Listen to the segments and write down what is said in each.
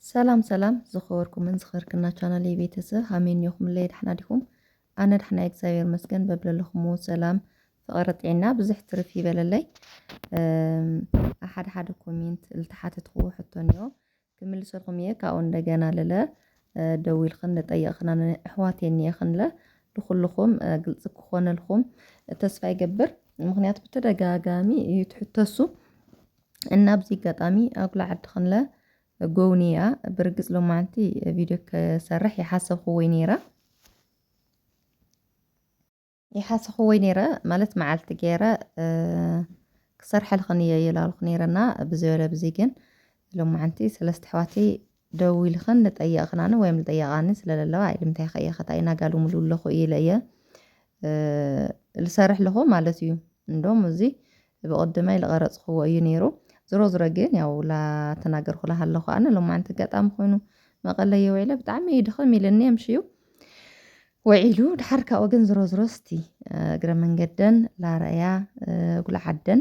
ሰላም ሰላም ዝኸበርኩምን ዝኸርክና ቻናለይ ቤተሰብ ሃመይ እኒኦኹምለይ ዳሕና ዲኹም ኣነ ዳሕና እግዚኣብሔር መስገን በብለለኹምዎ ሰላም ፍቕሪ ጥዕና ብዙሕ ትርፍ ይበለለይ ሓደ ሓደ ኮሜንት ልተሓተትኩዎ ሕቶ እኒኦ ክምልሰልኩም እየ ካብኡ እንደገና ልለ ደዊልክን ልጠየቕክና ኣሕዋት የኒኤኽን ለ ልኹልኹም ግልፂ ክኾነልኩም ተስፋ ይገብር ምክንያቱ ብተደጋጋሚ እዩ ትሕተሱ እና ኣብዚ ኣጋጣሚ ኣጉላ ዓዲ ክንለ ጎውንያ ብርግጽ ሎማዓንቲ ቪድዮ ክሰርሕ ይሓሰብክዎይ ነይረ ይሓሰብክዎይ ነይረ ማለት መዓልቲ ገይረ ክሰርሐልኽን እየ ይላልኩ ነይረና ብዘበለ ብዚ ግን ሎማዓንቲ ሰለስተ ኣሕዋተይ ደዊልኽን ልጠየቕኽናኒ ወይም ልጠየቓኒ ስለለለዋ ኣይ ልምታይ ኸየ ኸታይ ናጋ ልሙሉ ለኹ ኢለ እየ ልሰርሕ ለኹ ማለት እዩ እንዶም እዙይ ብቕድመይ ልቐረጽኽዎ እዩ ነይሩ ዝሮ ዝሮ ግን ያው ላተናገርኩ ላሃለኹ ኣነ ሎማዓንቲ ኣጋጣሚ ኮይኑ መቐለ እየ ውዒለ ብጣዕሚ እዩ ድኽም ኢለኒ የምሽዩ ውዒሉ ድሓር ካብኡ ግን ዝሮ ዝሮ እስቲ እግረ መንገደን ላረእያ ጉልዓደን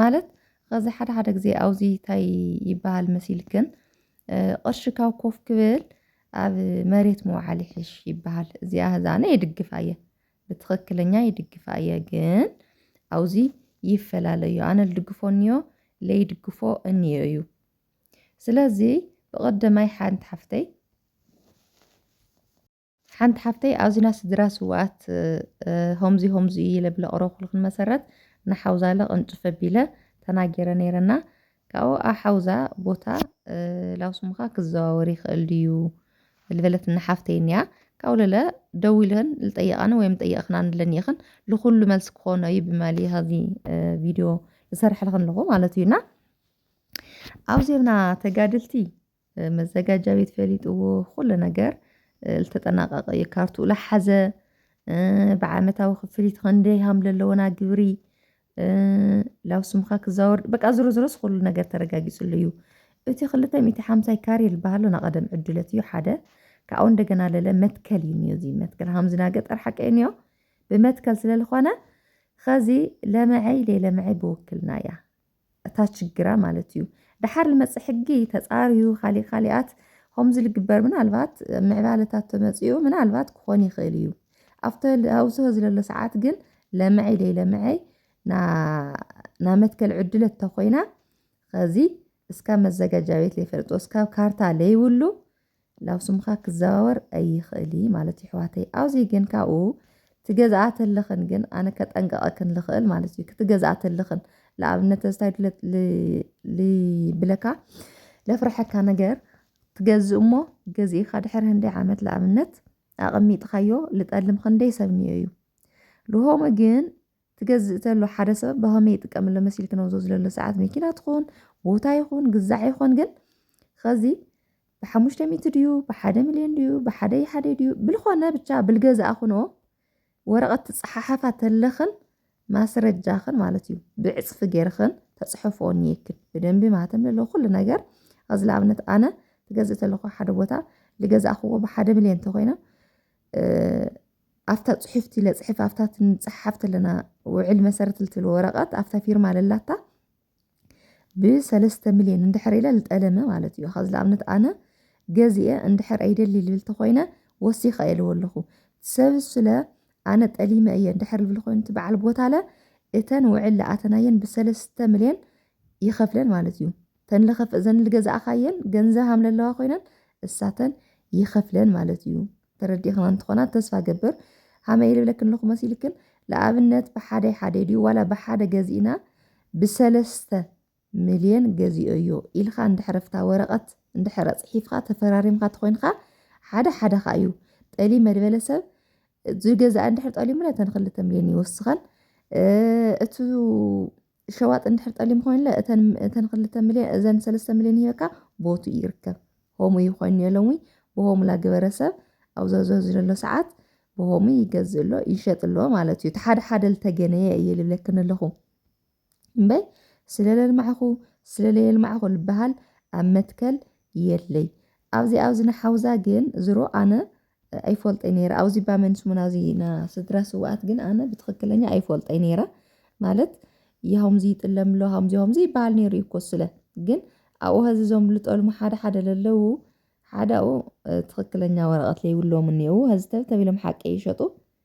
ማለት ኸዚ ሓደ ሓደ ግዜ ኣውዚ ታይ ይበሃል መሲልክን ቕርሺ ካብ ኮፍ ክብል ኣብ መሬት ምውዓል ይሕሽ ይበሃል እዚኣ እዛ ኣነ ይድግፋ እየ ብትኽክለኛ ይድግፋ እየ ግን ኣውዚ ይፈላለ እዩ ኣነ ልድግፎ እንዮ ለይድግፎ እንዮ እዩ ስለዚ ብቐደማይ ሓንቲ ሓፍተይ ሓንቲ ሓፍተይ ኣዙና ስድራ ስውኣት ሆምዙ ሆምዙ እዩ ኢለ ብለቕረኹልኽን መሰረት ንሓውዛ ለቕንጭፍ ኣቢለ ተናጌረ ነይረና ካብኡ ኣሓውዛ ቦታ ላውስሙኻ ክዘዋወር ይኽእል ድዩ ልበለት ንሓፍተይ እኒያ ካብኡ ለለ ደው ኢለን ልጠየቓን ወይም ጠየቕኽና ንለኒ ኢኽን ልኹሉ መልሲ ክኾኖ እዩ ብማሊ ኸዚ ቪድዮ ዝሰርሐልኽን ኣለኹ ማለት እዩና ኣብዚብና ተጋድልቲ መዘጋጃ ቤት ፈሊጥዎ ኩሉ ነገር ዝተጠናቀቀ እዩ ካርትኡ ላሓዘ ብዓመታዊ ክፍሊት ክንደይ ሃም ለለዎና ግብሪ ላብ ስምካ ክዛወር በቃ ዝሮ ዝሮስ ኩሉ ነገር ተረጋጊጽሉ እዩ እቲ ክልተ ሚእቲ ሓምሳይ ካሬ ዝበሃሎ ናቐደም ዕድለት እዩ ሓደ ካብኡ እንደገና ለለ መትከል እዩ እኒኦ እዚ መትከል ሃምዚ ና ገጠር ሓቂ እኒኦ ብመትከል ስለዝኾነ ኸዚ ለመዐይ ለይለመዐይ ብውክልና እያ እታ ችግራ ማለት እዩ ደሓር ልመፅእ ሕጊ ተፃርዩ ካሊእ ካሊኣት ከምዚ ልግበር ምናልባት ምዕባለታት ተመፅኡ ምናልባት ክኾን ይኽእል እዩ ኣብተ ኣብዝሆ ዝለሎ ሰዓት ግን ለመዐይ ደይ ለመዐይ ናብ መትከል ዕድለ እተኮይና ከዚ እስካብ መዘጋጃ ቤት ለይፈልጦ እስካብ ካርታ ለይብሉ ናብ ስምካ ክዘዋወር ኣይክእል እዪ ማለት ይሕዋተይ ኣውዚ ግን ካብኡ ትገዝኣ ተለኽን ግን ኣነ ከጠንቀቀክን ልኽእል ማለት እዩ ክትገዝኣ ተለኽን ልኣብነት ተዝታይ ልብለካ ለፍርሐካ ነገር ትገዝ እሞ ገዚእኻ ድሕሪ ህንደይ ዓመት ልኣብነት ኣቐሚጥኻዮ ልጠልም ኽንደይ ሰብ ንዮ እዩ ልሆመ ግን ትገዝእ ተሎ ሓደ ሰብ ብኸመይ ይጥቀምሎ መሲል ክነውዞ ዝለሎ ሰዓት መኪና ትኹን ቦታ ይኹን ግዛዕ ይኾን ግን ኸዚ ብሓሙሽተ ሚእቲ ድዩ ብሓደ ሚልዮን ድዩ ብሓደ ይሓደ ድዩ ብልኾነ ብቻ ብልገዛእ ኹኖ ወረቐት ትፀሓሓፋ ተለኽን ማስረጃኽን ማለት እዩ ብዕፅፊ ጌርኽን ተፅሕፎ እኒየክን ብደንቢ ማተም ለለ ኩሉ ነገር ኣዚ ንኣብነት ኣነ ትገዝእ ተለኹ ሓደ ቦታ ልገዛእኽዎ ብሓደ ሚልዮን እንተኾይነ ኣፍታ ጽሑፍቲ ለጽሕፍ ኣፍታ ትንጽሓፍ ተለና ውዕል መሰረት ልትል ወረቀት ኣፍታ ፊርማ ለላታ ብሰለስተ ሚልዮን እንድሕር ኢለ ልጠለመ ማለት እዩ ከዚ ንኣብነት ኣነ ገዚአ እንድሕር ኣይደሊ ልብል ተኮይነ ወሲኸ እየ ልበለኹ ሰብ ስለ ኣነ ጠሊመ እየ እንድሕር ልብል ኮይኑ እቲ በዓል ቦታለ እተን ውዕል ለኣተናየን ብሰለስተ ሚልዮን ይኸፍለን ማለት እዩ ተን ልኸፍ እዘን ልገዛእኻየን ገንዘብ ሃም ለለዋ ኮይነን እሳተን ይኸፍለን ማለት እዩ ተረዲእክና እንትኾና ተስፋ እገብር። ሃመይ ልብለክን ኣለኹ መሲልክን ልኣብነት ብሓደይ ሓደይ ድዩ ዋላ ብሓደ ገዚእና ብሰለስተ ምልየን ገዚኦዮ ኢልኻ እንድሕር ኣብታ ወረቐት እንድሕር ኣፅሒፍኻ ተፈራሪምካ ተኾይንኻ ሓደ ሓደኻ እዩ ጠሊመ ዝበለ ሰብ ዝገዝኣ እንድሕር ጠሊሙ ነተን ክልተ ምልየን ይወስኸን እቱ ሸዋጥ እንድሕር ጠሊም ኮይንለ እተን እተን ክልተ ሚልዮን እዘን ሰለስተ ሚልዮን ሂበካ ቦቱ ይርከብ ሆሙ ይኮይኑ የለውኝ ብሆሙላ ግበረ ሰብ ኣብ ዘዘዙ ዘሎ ሰዓት ብሆሙ ይገዝእ ኣሎ ይሸጥ ኣሎ ማለት እዩ ሓደ ሓደ ልተገነየ እየ ልብለክን ኣለኹ እምበይ ስለ ለልማዕኹ ስለ ለየልማዕኹ ልበሃል ኣብ መትከል የለይ ኣብዚ ኣብዚ ንሓውዛ ግን ዝሮ ኣነ ኣይፎልጠይ ነይረ ኣውዚባ መን ስሙና እዚ ና ስድራ ስውኣት ግን ኣነ ብትኽክለኛ ኣይፎልጠይ ነይረ ማለት ይሃምዚ ይጥለምሎ ሃምዚ ሃምዚ ይበሃል ነይሩ እዩ እኮ ስለ ግን ኣብኡ ሀዚ ዞም ልጠልሙ ሓደ ሓደ ለለዉ ሓደ ኣብኡ ትኽክለኛ ወረቐት ለይብሎም እኒኡ ሀዚ ተብተቢሎም ሓቂ ይሸጡ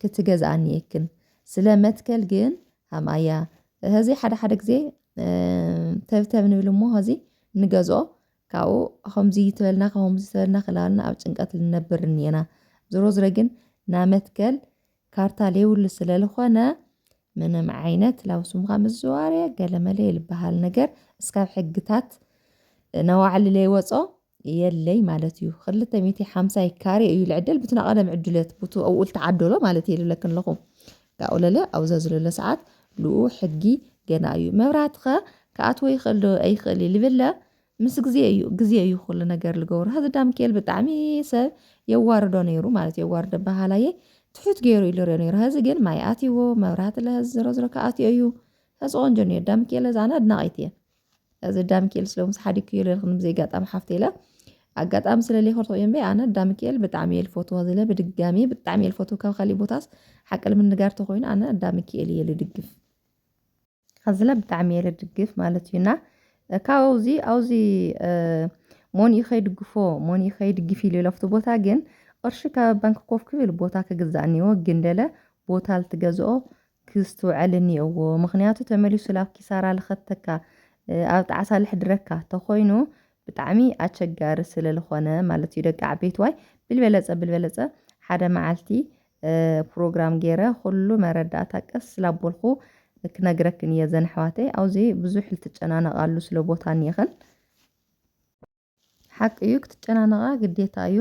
ክትገዝኣኒ የክን ስለ መትከል ግን ሃምኣያ ሀዚ ሓደ ሓደ ግዜ ተብተብ ንብል እሞ ሀዚ ንገዝኦ ካብኡ ከምዚ ተበልና ከምዚ ተበልና ክላልና ኣብ ጭንቀት ልነብር እኒና ዝሮ ዝረ ግን ናመትከል ካርታ ሌውሉ ስለልኾነ ምንም ዓይነት ላውስምካ ምዝዋርየ ገለመለ የልበሃል ነገር እስካብ ሕግታት ነዋዕሊ ለይወፆ የለይ ማለት እዩ ክልተ ሚእቲ ሓምሳይ ካሬ እዩ ልዕደል ብትና ቀደም ዕድለት ብቱ ኣብኡ ልተዓደሎ ማለት እየ ልብለክን ኣለኹ ካብኡ ለለ ኣብዛ ዝለሎ ሰዓት ልኡ ሕጊ ገና እዩ መብራትኸ ክኣትዎ ይኽእል ዶ ኣይኽእል እዩ ልብለ ምስ ግዜ እዩ ግዜ እዩ ኩሉ ነገር ልገብሮ ሀዚ ዳምኬል ብጣዕሚ ሰብ የዋርዶ ነይሩ ማለት የዋርዶ በሃላየ ትሑት ገይሩ ኢሉ ሪኦ ነይሩ ሀዚ ግን ማይ ኣትይዎ መብራህቲ ለሀዚ ዝሮ ዝሮ ክኣትዮ እዩ ሀዚ ቆንጆ ነይሩ ዳምኬል ዛና ኣድናቒት እየ እዚ ዳምኪኤል ስለምስ ሓዲግክዮ ኢለ ክንዲ ዘይጋጣሚ ሓፍተ ኢለ ኣጋጣሚ ስለለይኮር ተቆዮ እምበይ ኣነ ዳምኪኤል ብጣዕሚ እየ ልፈትዎ ዝለ ብድጋሚ ብጣዕሚ እየ ልፈትዎ ካብ ካሊእ ቦታስ ሓቂ ንምንጋር ተኮይኑ ኣነ ዳምኪኤል እየ ልድግፍ ካብዝለ ብጣዕሚ እየ ልድግፍ ማለት እዩና ካብኡ እዚ ኣብዚ ሞንኡ ከይድግፎ ሞንኡ ከይድግፍ ኢሉ ለፍቲ ቦታ ግን ቅርሺ ካብ ባንኪ ኮፍ ክብል ቦታ ክግዛእ እኒዎ ግን ደለ ቦታ ልትገዝኦ ክስትውዐል እኒኦዎ ምክንያቱ ተመሊሱ ላብ ኪሳራ ልኸተካ ኣብ ጣዕሳ ልሕድረካ ተኾይኑ ብጣዕሚ ኣቸጋሪ ስለልኾነ ማለት እዩ ደቂ ዓበይትዋይ ብልበለፀ ብልበለፀ ሓደ መዓልቲ ፕሮግራም ገይረ ኹሉ መረዳእታ ቀስ ላቦልኹ ክነግረክን እየ ዘን ኣሕዋተይ ኣውዚ ብዙሕ ልትጨናነቃሉ ስለ ቦታ እኒኤኽን ሓቂ እዩ ክትጨናነቓ ግዴታ እዩ።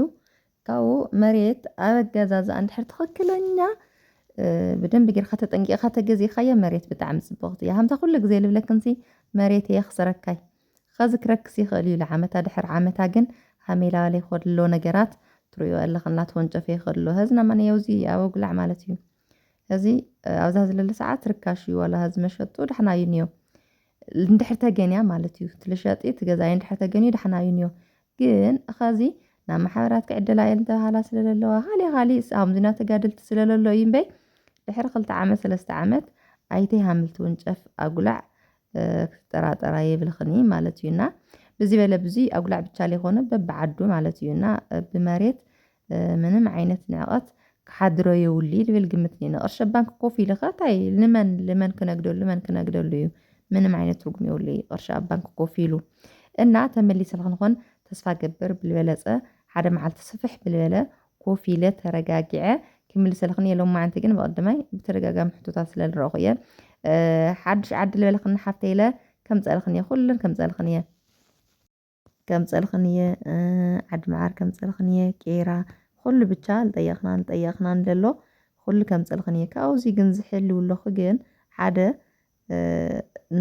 ካብኡ መሬት ኣብ ኣገዛዝኣ እንድሕር ትኽክለኛ ብደንቢ ጌርካ ተጠንቂቕካ ተገዚእካያ መሬት ብጣዕሚ ጽብቕቲ እያ። ሃምታ ኩሉ ግዜ ልብለክንሲ መሬት እየ ክሰረካይ ኸዚ ክረክስ ይኽእል እዩ ልዓመታ ድሕር ዓመታ ግን ሃሜላዋሌ ከሎ ነገራት ትርእዮ ኣለኽን ላተወንጨፈ ይኽእል ኣሎ። ሀዝና ማንያውዚ ኣብ ኣጉላዕ ማለት እዩ። እዚ ኣብዛ ዝለለ ሰዓት ርካሽ እዩ ዋላ ህዝ መሸጡ ዳሕና እዩ ንዮ እንድሕር ተገንያ ማለት እዩ ትልሸጢ ትገዛይ እንድሕር ተገንዩ ዳሕና እዩ ንዮ ግን ኸዚ ናብ ማሕበራት ክዕደላ እየን ተባሃላ ስለለለዋ ካሊእ ካሊእ ኣምዚና ተጋድልቲ ስለለሎ እዩ እምበይ ድሕሪ ክልተ ዓመት ሰለስተ ዓመት ኣይተ ሃምልቲ ውንጨፍ ኣጉላዕ ክትጠራጠራ የብልኽን እዩ ማለት እዩና ብዚ በለ ብዙይ ኣጉላዕ ብቻ ዘይኮነ በብዓዱ ማለት እዩና ብመሬት ምንም ዓይነት ንዕቐት ክሓድሮ የውሊ ልብል ግምት ኔኒ ቕርሺ ኣብ ባንኪ ኮፍ ኢልኻ ታይ ልመን ልመን ክነግደሉ መን ክነግደሉ እዩ ምንም ዓይነት ትርጉም የውሊ ቕርሺ ኣብ ባንኪ ኮፍ ኢሉ እና ተመሊሰ ልክንኾን ተስፋ እገብር ብልበለፀ ሓደ መዓልቲ ስፍሕ ብልበለ ኮፍ ኢለ ተረጋጊዐ ክምልሰልክን እየ ሎማዓንቲ ግን ብቕድማይ ብተደጋጋሚ ሕቶታት ስለ ልረእኹ እየ ሓዱሽ ዓዲ ልበለክን ሓፍተይ ኢለ ከምፀእልክን እየ ኩለን ከምፀእልክን እየ ከምጸልኽን እየ ዓዲ መዓር ከምጸልኽን እየ ቄራ ኹሉ ብቻ ልጠየኽናን ልጠየኽናን ለሎ ኹሉ ከምጸልኽን እየ ካብዚ ግን ዝሕልው ኣለኹ ግን ሓደ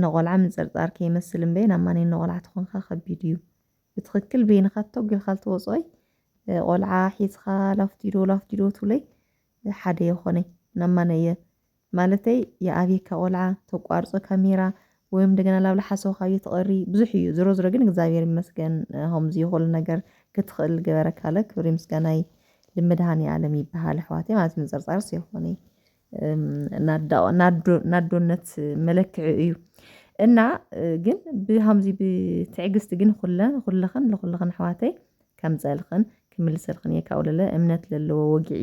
ንቆልዓ ምንጽርጻር ከይመስል እምበይ ናብ ማን ንቆልዓ ትኾንካ ከቢድ እዩ ብትኽክል በይንኻ ቶግ ኢልካ ልትወፅኦይ ቆልዓ ሒዝኻ ላፍቲዶ ላፍቲዶ ትብለይ ሓደ የኾነይ ናብ ማን እየ ማለተይ ይኣብየካ ቆልዓ ተቋርጾ ካሜራ ወይ እንደገና ላብላ ሓሰው ካብየ ትቐሪ ብዙሕ እዩ ዝሮ ዝሮ ግን እግዚኣብሔር ይመስገን ሆምዚ ይኹሉ ነገር ክትኽእል ገበረካለ ክብሪ ምስጋናይ ልምድሃን የዓለም ይበሃል ኣሕዋተይ ማለት ምንፅርፃር ሲይኾነይ ናዶነት መለክዒ እዩ እና ግን ብሃምዚ ብትዕግስቲ ግን ኹለን ኹልኽን ልኹልኽን ኣሕዋተይ ከምፀልኽን ክምልሰልኽን እየ ካብኡ ለለ እምነት ለለዎ ወግዒ